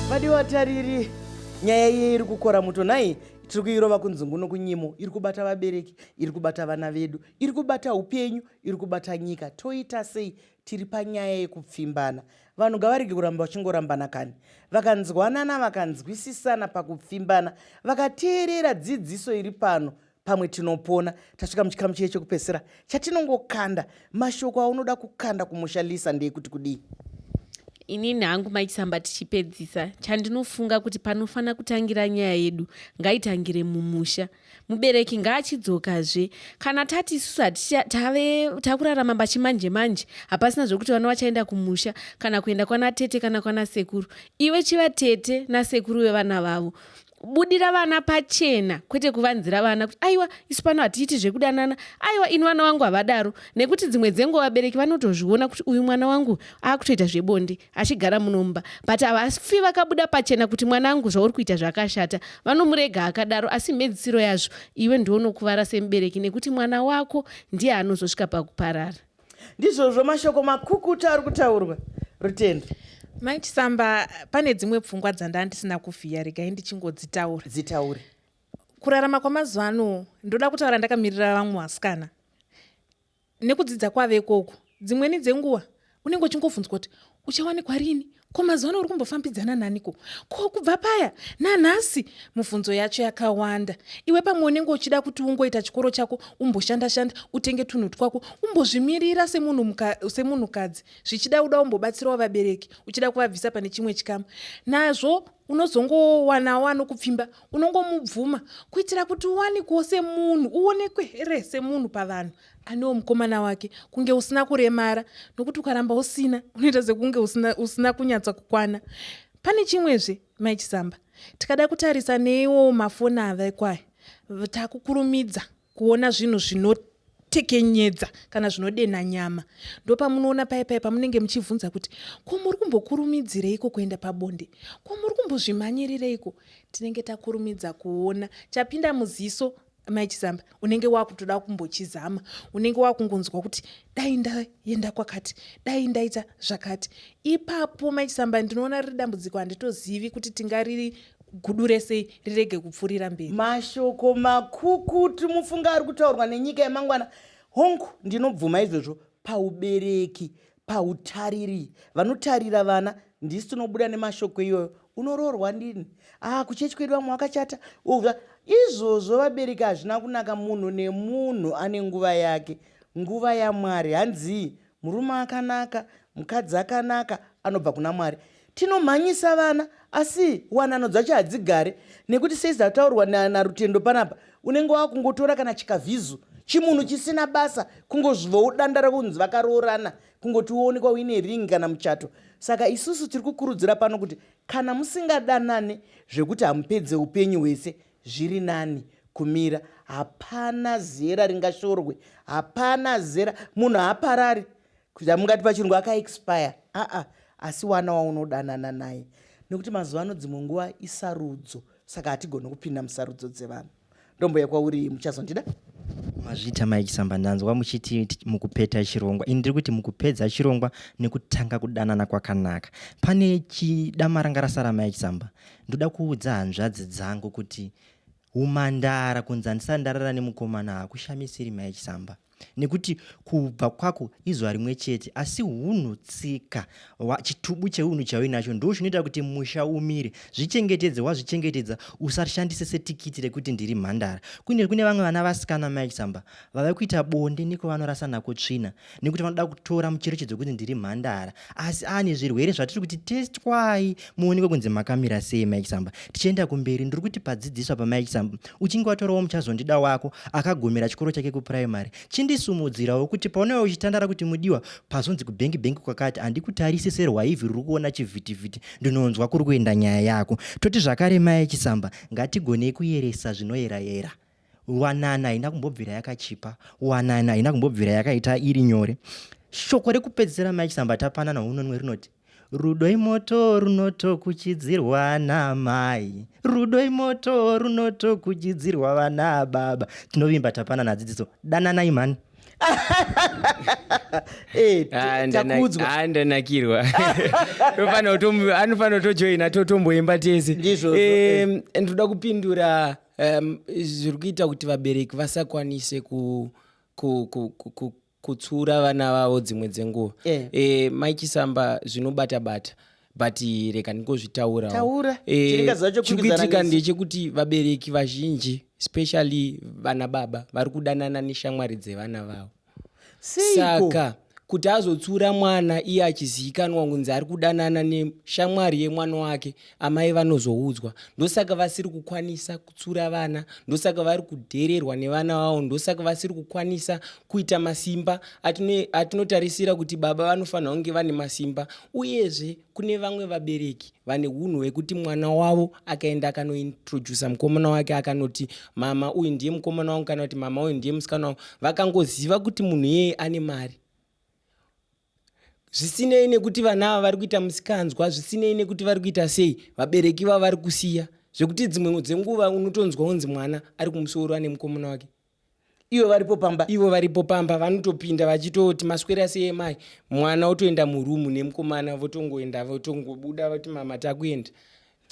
vadiwatariri nyaya iye iri kukora muto nhai tiri kuirova kunzungu nokunyimo iri kubata vabereki iri kubata vana vedu iri kubata upenyu iri kubata nyika toita sei tiri panyaya yekupfimbana vanhu ngavarege kuramba vachingorambana kani vakanzwanana vakanzwisisana pakupfimbana vakateerera dzidziso iri pano pamwe tinopona tasvika muchikamu chiye chekupesera chatinongokanda mashoko aunoda kukanda kumusha lisa ndeekuti kudii inini hangu maichisamba tichipedzisa chandinofunga kuti panofanira kutangira nyaya yedu ngaitangire mumusha mubereki ngaachidzokazve kana tati isusu hatitave takurarama pachimanje manje hapasina zvekuti vana vachaenda kumusha kana kuenda kwana tete kana kwana sekuru iwe chiva tete nasekuru vevana vavo kubudira vana pachena kwete kuvanzira vana kuti aiwa isu pano hatiiti zvekudanana aiwa ini vana vangu havadaro nekuti dzimwe dzenguva vabereki vanotozviona kuti uyu mwana wangu akutoita zvebonde achigara munomba but havafi vakabuda pachena kuti mwana angu zvauri kuita zvakashata vanomurega akadaro asi mhedzisiro yazvo iwe ndiwo unokuvara semubereki nekuti mwana wako ndiye anozosvika pakuparara ndizvozvo mashoko makukuta ari kutaurwa rutendo mai chisamba pane dzimwe pfungwa dzandaa ndisina kuvhiya regai ndichingodzitaura dzitaure kurarama kwamazuva ano ndoda kutaura ndakamirira vamwe vasikana nekudzidza kwave ikoko dzimweni dzenguva unenge uchingovhunzwa kuti uchawanikwa rini ko mazuva ano uri kumbofambidzana naniko ko kubva paya nanhasi mubvunzo yacho yakawanda iwe pamwe unenge uchida kuti ungoita chikoro chako umboshandashanda utenge tunhu twako umbozvimirira semunhukadzi zvichida uda umbobatsirawo vabereki uchida kuvabvisa pane chimwe chikamu nazvo unozongowanawo anokupfimba unongomubvuma kuitira kuti uwanikewo semunhu uonekwe here semunhu pavanhu anewo mukomana wake kunge usina kuremara nokuti ukaramba usina unoita sekunge usina, usina kunyatsa kukwana pane chimwezve mai chisamba tikada kutarisa neiwo mafoni avekwaya takukurumidza kuona zvinhu zvinotekenyedza kana zvinodenha nyama ndopamunoona paye paye pamunenge muchibvunza kuti ko muri kumbokurumidzireiko kuenda pabonde ko muri kumbozvimhanyirireiko tinenge takurumidza kuona chapinda muziso mai chizamba unenge wakutoda kumbochizama unenge wakungonzwa kuti dai ndaenda kwakati dai ndaita zvakati ipapo mai chizamba ndinoona riri dambudziko handitozivi kuti tingariri gudu rese rirege kupfuurira mberi mashoko makukutu mufunga ari kutaurwa nenyika yemangwana hongu ndinobvuma izvozvo paubereki pautariri vanotarira vana ndisi tinobuda nemashoko iyoyo unoroorwa ndini ah kuchechi kwedu vamwe wakachata uva izvozvo vabereki hazvina kunaka munhu nemunhu ane nguva yake nguva yamwari hanzii murume akanaka mukadzi akanaka anobva kuna mwari Tinomhanyisa vana asi wanano dzacho hadzigare nekuti sezvataurwa naRutendo panapa unenge wakungotora kana chikavhizu chimunhu chisina basa kungozvivawo danda rakunzi vakaroorana kungoti woonekwa uine ring kana muchato saka isusu tiri kukurudzira pano kuti kana musingadanane zvekuti hamupedze upenyu hwese zviri nani kumira hapana zera ringashorwe hapana zera munhu haaparari kuita mungati pachirungu akaexpire aa asi wana waunodanana naye nekuti mazuva ano dzimwe nguva isarudzo saka hatigoni kupinda musarudzo dzevanhu ndomboya kwauri muchazondida mazvita maikisamba ndanzwa muchiti mukupeta chirongwa ini ndiri kuti mukupedza chirongwa nekutanga kudanana kwakanaka pane chidamara ngarasara maikisamba ndoda kuudza hanzvadzi dzangu kuti Humhandara kunzi handisati ndarara nemukomana hakushamisiri mai Chisamba nekuti kubva kwako izuva rimwe chete asi hunhu tsika chitubu cheunhu chauinacho ndo chinoita kuti musha umire zvichengetedze wazvichengetedza usashandise setikiti rekuti ndiri mhandara kune kune vamwe vana vasikana mai chisamba vave kuita bonde nekwavanorasa nako tsvina nekuti vanoda kutora mucherechedzo kunzi ndiri mhandara asi ane zvirwere zvatiri kuti testwai muonekwe kunzi makamira sei mike samba tichienda kumberi ndiri kuti padzidziswa pamike samba uchinge watorawo muchazondida wako akagomera chikoro chake kupuraimary chindisumudzirawo kuti paunova uchitandara kuti mudiwa pazonzi kubhengi bhengi kwakati handikutarise serwaivhi ruri kuona chivhitivhiti ndinonzwa kuri kuenda nyaya yako toti zvakare mike samba ngatigonei kuyeresa zvinoyerayera yera. wanana haina kumbobvira yakachipa wanana haina kumbobvira yakaita iri nyore shoko rekupedzisira mai chisamba tapanana unonwe rinoti rudo imoto runotokuchidzirwa namai rudo imoto runotokuchidzirwa vana baba tinovimba tapanana dzidziso dananai mhani Eh, ah, ndanakirwa anofanira kutojoina totomboimba tese eh, ndoda kupindura um, zviri kuita kuti vabereki vasakwanise ku, ku, ku, ku, ku kutsura vana vavo dzimwe dzenguva yeah. e, eh, mai chisamba zvinobata bata but reka ndingozvitaurawo e, eh, chikuitika ndechekuti vabereki vazhinji especially vana baba vari kudanana neshamwari dzevana vavo Seiko? saka kuti azotsiura mwana iye achizivikanwa kunzi ari kudanana neshamwari yemwana wake amai vanozoudzwa ndosaka vasiri kukwanisa kutsiura vana ndosaka vari kudhererwa nevana vavo ndosaka vasiri kukwanisa kuita masimba atino- atinotarisira kuti baba vanofanira kunge vane masimba uyezve kune vamwe vabereki vane unhu hwekuti mwana wavo akaenda akanointrodusa mukomana wake akanoti mama uyu ndiye mukomana wangu kana kuti mama uyu ndiye musikana wangu vakangoziva kuti munhu iyeye ane mari zvisinei nekuti vana ava vari kuita musikanzwa zvisinei nekuti vari kuita sei vabereki vavo vari kusiya zvekuti dzimwe dzenguva unotonzwa unzi mwana ari kumusoro ane mukomana wake ivo varipo pamba ivo varipo pamba vanotopinda vachitoti maswera sei mai mwana otoenda murumu nemukomana votongoenda votongobuda voti mama takuenda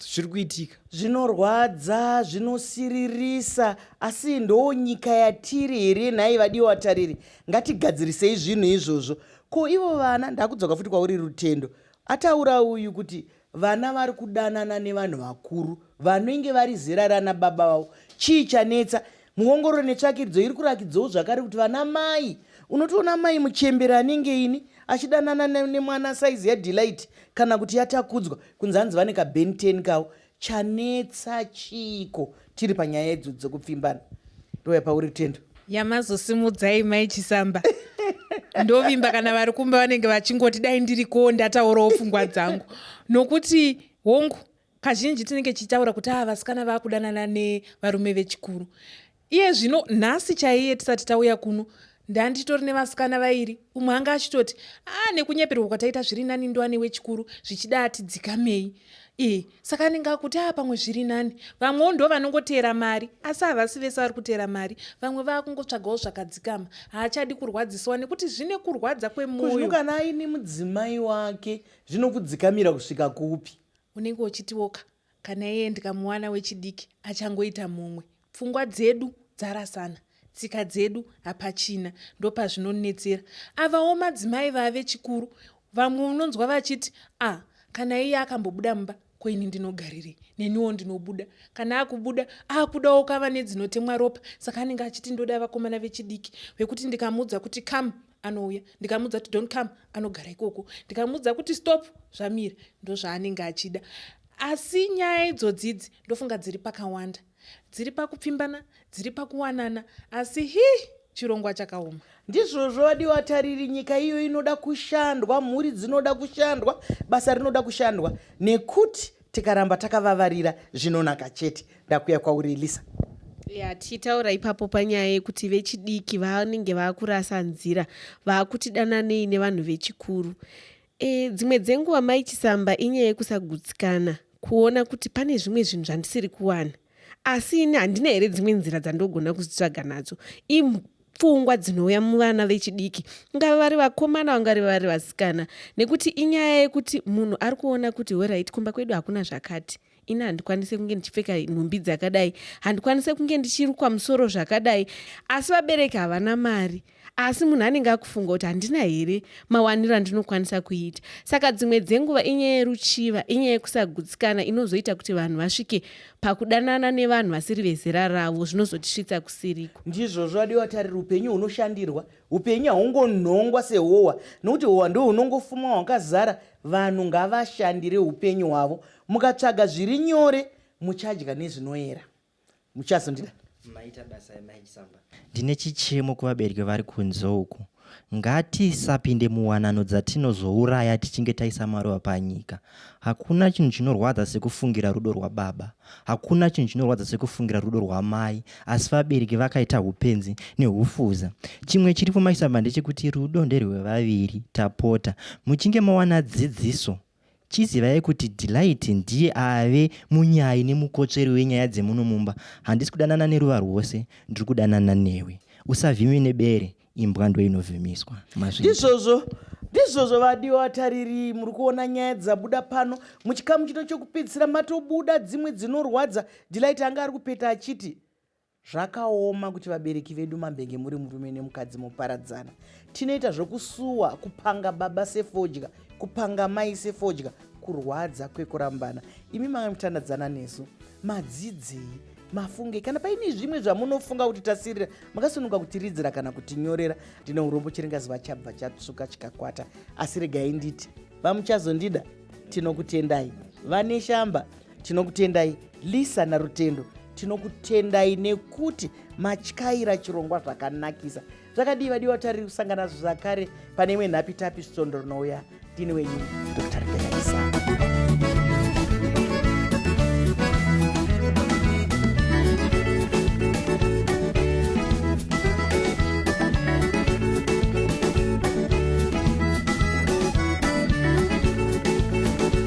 zviri kuitika zvinorwadza zvinosiririsa asi ndoo nyika yatiri here nhai vadiwa vatariri ngatigadzirisei zvinhu izvozvo ko ivo vana ndakudzoka futi kwauri rutendo ataura uyu kuti Vana vari kudanana nevanhu vakuru vanenge vari zera rana baba vavo. Chii chanetsa? Muongororo netsvakiridzo iri kurakidzawo zvakare kuti vana mai unotoona mai muchembere anenge ini achidanana nemwana saizi yaDelight kana kuti yaTakudzwa kunzi hanzi vane kaBen 10 kavo. Chanetsa chiiko? tiri panyaya idzo dzekupfimbana ndouya pauri tendo yamazosimudzai mai chisamba ndovimba kana vari kumba vanenge vachingoti dai ndiriko ndataurawo pfungwa dzangu nokuti hongu kazhinji tinenge tichitaura kuti aa ah, vasikana vakudanana nevarume vechikuru iye zvino nhasi chaiye tisati tauya kuno ndanditori nevasikana vairi umwe anga achitoti a ah, nekunyeperwa kwataita zviri nani ndoane wechikuru zvichida atidzikamei e saka anenge akuti a ah, pamwe zviri nani vamwewo ndo vanongoteera mari asi havasi vese vari kuteera mari vamwe vaakungotsvagawo zvakadzikama haachadi kurwadziswa nekuti zvine kurwadza kwemoyo kana aine mudzimai wake zvinokudzikamira kusvika kupi unenge uchitiwoka kana iye ndikamuwana wechidiki achangoita mumwe pfungwa dzedu dzarasana tsika dzedu hapachina ndopazvinonetsera avawo madzimai vave chikuru vamwe unonzwa vachiti a ah, kana iye akambobuda mumba ko ini ndinogarirei neniwo ndinobuda kana akubuda akudawo kava nedzinotemwa ropa saka anenge achiti ndoda vakomana vechidiki vekuti ndikamuudza kuti kam anouya ndikamuudza kuti don't come anogara ikoko ndikamuudza kuti stop zvamira ndozvaanenge achida asi nyaya idzodzi idzi ndofunga dziri pakawanda dziri pakupfimbana dziri pakuwanana asi hi chirongwa chakaoma ndizvozvo vadiwa tariri nyika iyo inoda kushandwa mhuri dzinoda kushandwa basa rinoda kushandwa nekuti tikaramba takavavarira zvinonaka chete ndakuya kwauri elisa ya tichitaura ipapo panyaya yekuti vechidiki vanenge vakurasa nzira vakuti dananei nevanhu vechikuru e, dzimwe dzenguva mai chisamba inyaya yekusagutsikana kuona kuti pane zvimwe zvinhu zvandisiri kuwana asi ini handina here dzimwe nzira dzandogona kuzitsvaga nadzo pfungwa dzinouya muvana vechidiki ngava vari vakomana vangari vari vasikana nekuti inyaya yekuti munhu ari kuona kuti horit kumba kwedu hakuna zvakati ini handikwanise kunge ndichipfeka nhumbi dzakadai handikwanise kunge ndichirukwa musoro zvakadai asi vabereki havana mari asi munhu anenge akufunga kuti handina here mawaniro andinokwanisa kuita saka dzimwe dzenguva inyaya yeruchiva inyaya yekusagutsikana inozoita kuti vanhu vasvike pakudanana nevanhu vasiri vezera ravo zvinozotisvitsa kusiriko ndizvozvo adiwa tarira upenyu hunoshandirwa upenyu haungonhongwa sehowa nokuti howa ndo hunongofumwa hwakazara vanhu ngavashandire upenyu hwavo mukatsvaga zviri nyore muchadya nezvinoera muchazondida maita basa yamai chisamba ndine chichemo kuvabereki vari kunze uku ngatisapinde muwanano dzatinozouraya tichinge taisa maruva panyika hakuna chinhu chinorwadza sekufungira rudo rwababa hakuna chinhu chinorwadza sekufungira rudo rwamai asi vabereki vakaita upenzi neufuza chimwe chiripo maisamba ndechekuti rudo nderwevaviri tapota muchinge mawana dzidziso Chizivai kuti Delight ndiye ave munyayi nemukotsveri wenyaya dzemuno mumba. Handisi kudanana neruva rwose, ndiri kudanana newe. Usavhime nebere, imbwa ndoinovhimiswa. Mazvinzwa? Ndizvozvo, ndizvozvo vadiwa vatariri, muri kuona nyaya dzabuda pano. Muchikamu chino chokupedzisira matobuda dzimwe dzinorwadza. Delight anga ari kupeta achiti, Zvakaoma kuti vabereki vedu mambenge muri murume nemukadzi moparadzana. Tinoita zvokusuwa, kupanga baba sefodya, kupanga mai sefodya, kurwadza kwekurambana. Imi manga mutandadzana nesu. Madzidzei, mafunge kana paine zvimwe zvamunofunga kuti tasirira makasunuka kutiridzira kana kutinyorera. Ndine urombo chiringaziva chabva chatsvuka chikakwata. Asi regai nditi, vamuchazondida tinokutendai. Vane shamba. tinokutendai lisa narutendo tinokutendai nekuti matyaira chirongwa zvakanakisa zvakadii vadiwa tari kusangana zvakare pane imwe nhapi tapi svondo rinouya ndini wenyu dr belaisa